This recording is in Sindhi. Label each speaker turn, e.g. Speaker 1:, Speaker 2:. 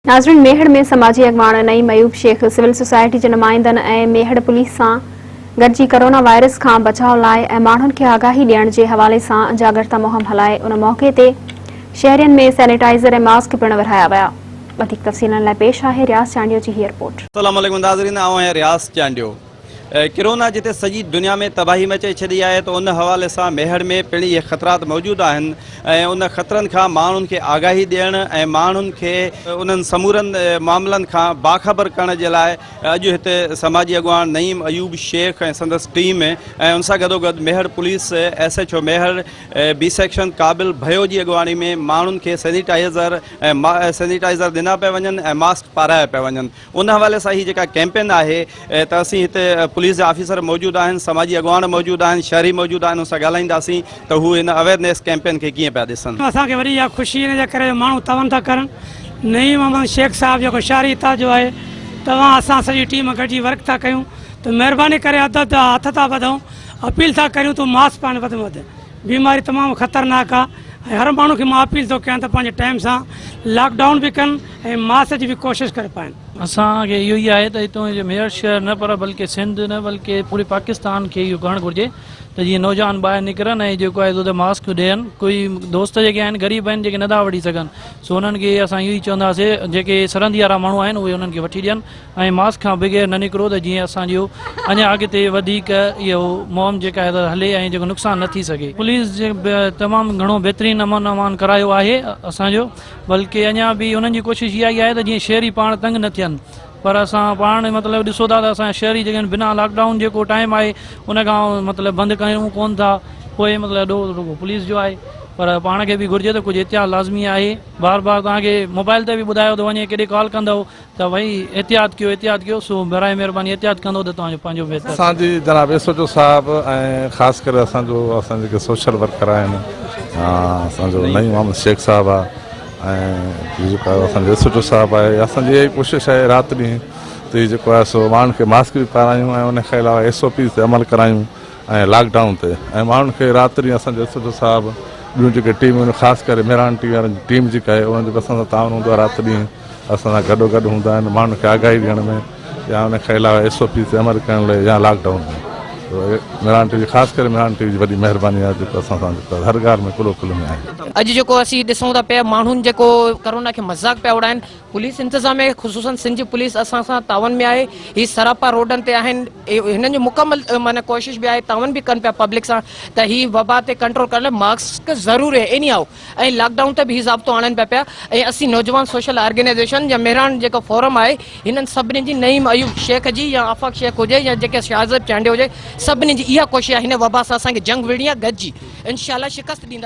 Speaker 1: ناظرين ميهڙ ۾ سماجي اڳواڻ نعيم ايوب شيخ سول سوسائٽي جي نمائندن ۽ ميهڙ پوليس سان گڏجي ڪورونا وائرس کان بچاء لاء ۽ ماڻهن کي آگاهي ڏيڻ جي حوالي سان جاڳرتا مهم هلائي ان موقعي تي شهرين ۾ سينيٽائزر ۽ ماسڪ پڻ ورهايا ويا وڌيڪ تفصيلن لاء پيش آهي رياض چانڊيو جي هي رپورٽ. السلام عليڪم ناظرين آئون
Speaker 2: آهيان رياض چانڊيو. ڪرونا جتي سڄي دنيا ۾ تباهي مچائي ڇڏي آهي ته ان حوالي سان ميهڙ ۾ پڻ اهي خطرات موجود آهن ۽ ان خطرن کان ماڻهن کي آگاهي ڏيڻ ۽ ماڻهن کي انهن سمورن معاملن کان باخبر ڪرڻ جي لاء اڄ هتي سماجي اڳواڻ نعيم ايوب شيخ ۽ سندس ٽيم ۽ ان سان گڏوگڏ Mehar police S H O Mehar B section Qabil Bhayo جي اڳواڻي ۾ ماڻهن کي سينيٽائيزر ۽ سينيٽائيزر ڏنا پيا وڃن ۽ ماسڪ پارايا پيا وڃن. ان حوالي سان هي جيڪا ڪيمپين آهي ته اسين هتي پوليس جا آفيسر موجود آهن سماجي اڳواڻ موجود آهن شهري موجود آهن ان سان ڳالهائينداسين ته هو هن اويرنيس ڪيمپين کي ڪيئن پيا ڏسن. اسان کي وڏي اها خوشي
Speaker 3: ان جي ڪري جو ماڻهو تعاون ٿا ڪرن نعيم احمد شيخ صاحب جيڪو شهري اتحاد جو آهي توهان اسان سڄي ٽيم گڏجي ورڪ ٿا ڪيون ته مهرباني ڪري ادب جا هٿ ٿا ٻڌون اپيل ٿا ڪريون ته ماس پائڻ وڌ ۾ وڌ بيماري تمام خطرناڪ آ ۽ هر ماڻهو کي مان اپيل ٿو ڪيان ته پنهنجي ٽائيم سان لاڪ ڊائون به ڪن ۽ ماسڪ جي به ڪوشش ڪري پائين. اسان کي اهو ئي
Speaker 4: آهي ته هتون جي ميرٺ شهر نه پر بلڪه سنڌ نه بلڪه پوري پاڪستان کي اهو ڪرڻ گهرجي ته جيئن نوجوان ٻاهر نڪرن ۽ جيڪو آهي سو ته ماسڪ ڏين ڪوئي دوست جيڪي آهن غريب آهن جيڪي نه ٿا وٺي سگهن سو انهن کي اسان اهو ئي چونداسي جيڪي سرندي وارا ماڻهو آهن اهي انهن کي وٺي ڏين ۽ ماسڪ کان بغير نه نڪرو ته جيئن اسان جو اڃا اڳتي وڌيڪ اهو مهم جيڪا آهي ته هلي ۽ جيڪو نقصان نه ٿي سگهي. پوليس جي به تمام گهڻو بهترين امن امان ڪرايو آهي اسان جو بلڪه اڃا به انهن جي ڪوشش اها ئي آهي ته جيئن شهري پاڻ تنگ نه ٿين پر اسان پاڻ مطلب ڏسو ٿا ته اسان شهري جيڪي بنا لاڪ ڊائون جيڪو ٽائيم آهي ان کان مطلب بند ڪيون ڪون ٿا پوء مطلب ڏوهه رڳو پوليس جو آهي پر پاڻ کي به گهرجي ته ڪجهه احتياط لازمي آهي بار بار توهان کي موبائل تي به ٻڌايو ٿو وڃي ڪيڏي ڪال ڪندو توهين احتياط ڪيو احتياط ڪيو سو براهه مهرباني احتياط ڪندو ته توهان جو پنهنجو بهتر. اسان جي جناب ايس ايچ
Speaker 5: او صاحب ۽ خاص ڪري اسان جو اسان جيڪي سوشل ورڪر آهن اسان جو نعيم محمد شيخ صاحب آ ۽ جيڪا اسان جو ايس ايچ او صاحب آهي اسان جي اها ئي ڪوشش آهي رات ڏينهن تي جيڪو آهي سو ماڻهن کي ماسڪ به پارايون ۽ ان کان علاوه ايس او پيز تي عمل ڪرايون ۽ لاڪ ڊائون تي ۽ ماڻهن کي رات ڏينهن اسان جو ايس ايڇ او صاحب ٻيون جيڪي ٽيمون آهن خاص ڪري مهراڻ ٽي وي وارن جي ٽيم جيڪا آهي انهن جو به اسان سان تعاون هوندو آهي رات ڏينهن اسان سان گڏو گڏ هوندا آهن ماڻهن کي آگاهي ڏيڻ ۾ يا ان کان علاوه ايس او پيز تي عمل ڪرڻ لاء يا lockdown ۾ Mehran T V خاص ڪري مهراڻ ٽي وي جي وڏي مهرباني آهي جيڪو اسان سان جيڪو هر ڳالهه ۾ ڪلو ڪلو ۾ آهن. اڄ جيڪو اسين ڏسون
Speaker 6: ٿا پيا ماڻهن جيڪو ڪرونا کي مذاق پيا اڙائن. پوليس انتظاميه خصوصن سنڌ پوليس اسان سان تعاون ۾ آهي هي سراپا روڊن تي آهن هنن جو مڪمل معنيٰ ڪوشش به آهي تعاون به ڪن پيا پبلڪ سان ته هي وبا تي ڪنٽرول ڪرڻ لاء ماسڪ ضرور ايني هائو ۽ لاڪ ڊائون تي به هي ضابطو آڻن پيا پيا ۽ اسين نوجوان سوشل آرگنائيزيشن يا مهراڻ جيڪو فورم آهي هنن سڀني جي نعيم ايوب شيخ جي يا آفاق شيخ هجي يا جيڪي شاهزيب چانڊيو هجي سڀني جي اها ڪوشش آهي هن وبا سان اسان کي جنگ وڙهڻي آهي گڏجي انشاء الله شڪست ڏيندا